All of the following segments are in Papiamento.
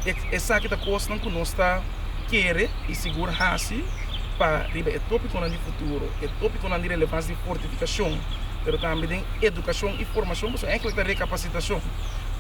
Esaki ta kosnan ku nos ta kere i sigur hasi pa riba e topikonan di futuro, e topikonan di relevansia di fortifikashon, pero tambe den edukashon i formashon, pasobra enkele ta rekapasitashon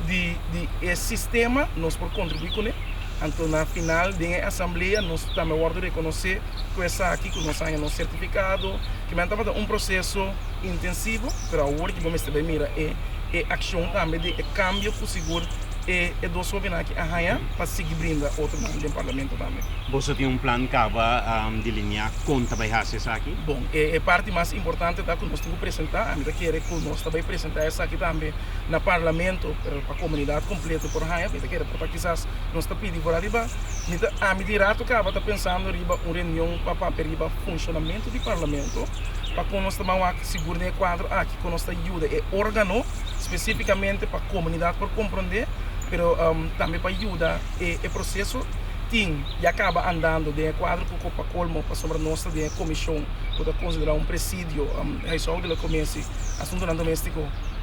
di e sistema, nos por kontribuí kuné. Anto na final den e asamblea nos tambe a wòrdu rekonosé ku esaki, ku nos a haña nos sertifikado. Kimin a tabata un proseso intensivo, pero awor ki bo mester bai mira e akshon tambe den e kambio ku sigur e e dos hobennan aki a haña pa sigui brinda otro nan den Parlamento tambe. Boso tin un plan caba delineá con ta bay haci esaki? Bon, e e parti mas importante ta cu nos tin cu presentá. Ami ta kere cu nos ta bay presentá esaki tambe na Parlamento pero pa comunidad completo por haña. Mi ta kere por ta kisas nos ta pidi por ariba. Mi ta, ami di rato caba ta pensando riba un reunion pa papia riba funcionamento di Parlamento pa con nos ta ban wak sigur den e cuadro aki con nos ta yuda e órgano. spesífikamente pa komunidat por komprondé, pero tambe pa yuda e e proseso tin ya kaba andando den e kuadro ku ko pa kolmo pasobra nos ta den e komishon ku ta konsiderá un presidio huishouden lo kominsi asuntonan doméstiko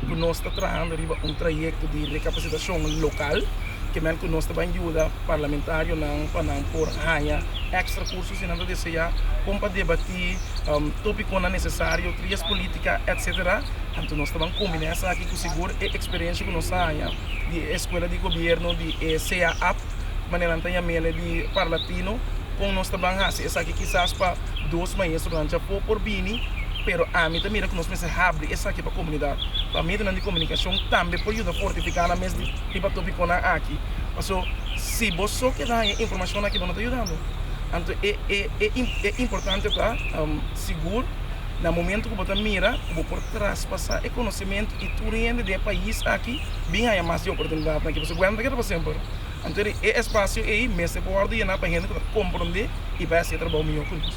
ku nos ta trahando riba un trayekto di rekapasitashon lokal. kimen ku nos ta ban yuda parlamentarionan pa nan por haña ekstra kurso si nan ta deseá kon pa debatí tópikonan nesesario, trias polítika etcétera. Anto nos ta ban kombiná esaki ku sigur e eksperensia ku nos a haña di e Eskuela di Gobièrnu di e CAAP, manera nan ta yam'e di Parlatino, kon nos ta ban hasi esaki kisas pa dos maestronan djapó por bini, pero ami ta mira ku nos mester habri esaki pa komunidat, pa medionan di komunikashon tambe por yuda fortifiká nan mes di. y pa topiconan aki. Paso si bo so keda haña e informacionnan aki bo no ta yudando. Anto e e importante ta sigur na momento cu bo ta mira cu bo por traspasa e conocemento y tur hende den e pais aki bin haña mas di e oportunidadnan aki. Paso Guaira no ta keda pa semper. Anto e espacio ey mester por wordo yena pa hende cu ta comprende y bay haci e trabao miyor cu nos.